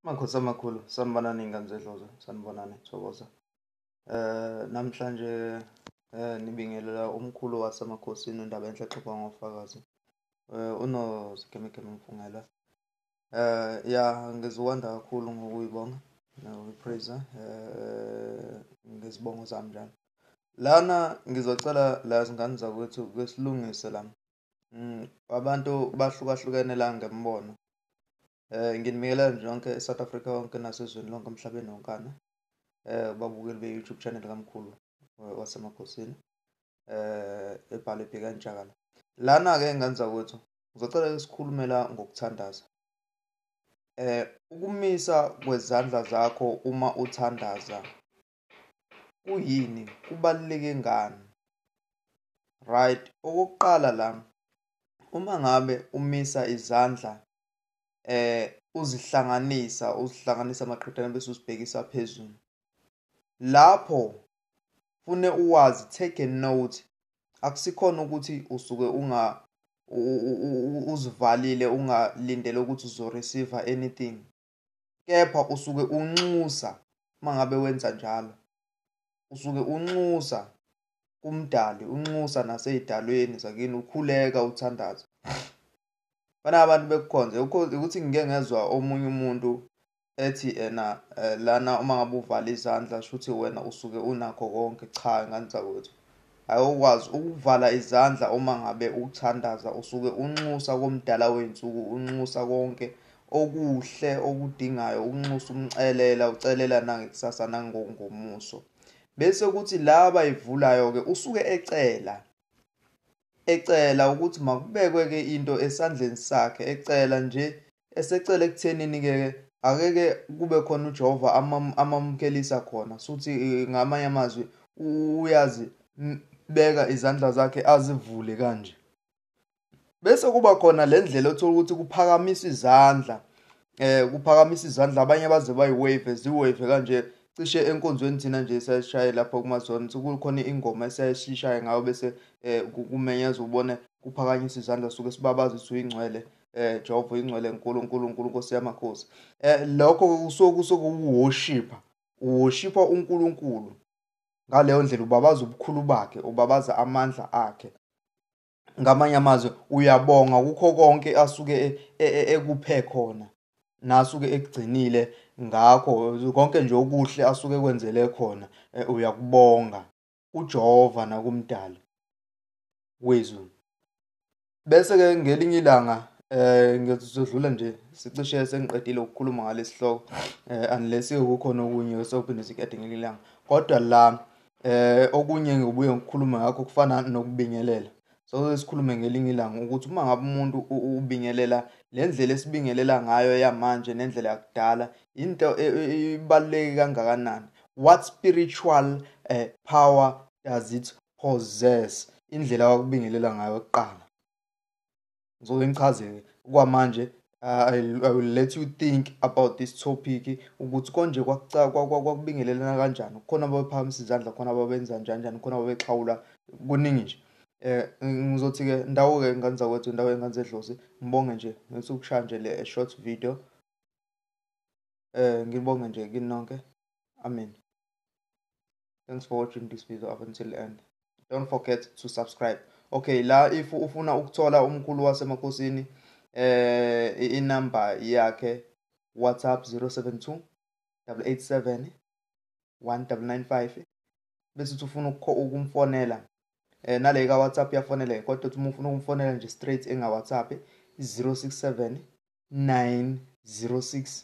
Makhosi amakhulu sanibonani ingane zedloza sanibonani thokoza eh namhlanje eh nibingelela umkhulu wasemakhosini undaba enhle xhoba ngofakazi eh uno sikemekeme mfungela eh ya ngiziwanda kakhulu ngokuyibonga nokuyipraiser eh ngezibongo zami njalo lana ngizocela la zingane zakwethu kwesilungise lami Mm, abantu bahlukahlukene la ngembono. Eh nginibingelela nje yonke eSouth Africa yonke nasezweni lonke emhlabeni wonkana. Eh babukeli be-YouTube channel kaMkhulu eh, wasemakhosini. Eh ebhalwe bheka njalo. Lana ke ngenza ukuthi ngizocela isikhulumela ngokuthandaza. Eh ukumisa kwezandla zakho uma uthandaza kuyini kubaluleke ngani right okokuqala la uma ngabe umisa izandla eh uzihlanganisa uzihlanganisa amaqhithana bese uzibhekisa phezulu lapho fune uwazi take a note akusikhona ukuthi usuke unga uzivalile ungalindele ukuthi uzoreceive anything kepha usuke unxusa uma ngabe wenza njalo usuke unxusa kumdali unxusa nasey'dalweni zakini ukhuleka uthandaza bana abantu bekukhonze ukuthi ngike ngezwa omunye umuntu ethi ena eh, lana uma ngabe uvala izandla shuthi wena usuke unakho konke cha ngani zakwethu Ayokwazi ukuvala izandla uma ngabe ukuthandaza usuke unxusa komdala wey'nsuku unxusa konke okuhle okudingayo ukunxusa umcelela ucelela nangekusasa nangongomuso bese kuthi laba ivulayo ke usuke ecela ecela ukuthi makubekwe ke into esandleni sakhe ecela nje Esecela ekuthenini-ke akeke kube khona uJehova amamukelisa khona suthi eh, ngamanye amazwi uyazi beka izandla zakhe azivule kanje bese kuba khona le ndlela othola ukuthi kuphakamisa izandla eh kuphakamisa izandla abanye baze bayiwave ziwave kanje cishe enkonzweni thina nje siyashaye lapho kumazone kukhona ingoma esiyayishaye ngayo bese eh kumenyeza ubone kuphakanyisa izandla suke sibabaza ukuthi uyingcwele eh Jehova ingcwele enkulu uNkulunkulu Nkosi yamakhosi eh lokho kusuke kusuke uworshipa uworshipa uNkulunkulu ngaleyo ndlela ubabaza ubukhulu bakhe ubabaza amandla akhe ngamanye amazwi uyabonga kukho konke asuke e, e, e, ekuphe khona nasuke ekugcinile ngakho konke nje okuhle asuke kwenzele khona uyakubonga uJehova nakumdali wezulu bese ke ngelinye ilanga eh ngizodlula nje sicishe sengiqedile ukukhuluma ngalesihloko eh unless kukhona okunye osophinde sikade ngelinye ilanga kodwa la eh okunye ngibuye ngikhuluma ngakho kufana nokubingelela Soke sikhulume ngelinye ilanga ukuthi uma ngabe umuntu ubingelela le ndlela esibingelela ngayo yamanje nendlela yakudala into e, e, e, ibaluleke kangakanani what spiritual uh, power does it possess indlela wakubingelela ngayo kuqala ngizoke ngichazeke kwamanje I, I will let you think about this topic ukuthi konje kwakubingelelana kanjani khona ababephakamisa izandla khona ababenza njani njani khona ababexhawula kuningi nje eh ngizothi-ke ndawo-ke ingane zakwethu ndawo ingane zedlozi ngibonge nje ngithi ukushaya nje le short video eh ngibonge nje kinonke amen thanks for watching this video up until end don't forget to subscribe okay la if ufuna ukuthola umkhulu wasemakhosini eh inamba yakhe whatsapp 072 887 1995 bese uthi ufuna ukumfonela eh nale ka whatsapp yafonele kodwa uthi ufuna ukumfonela nje straight enga whatsapp 067 906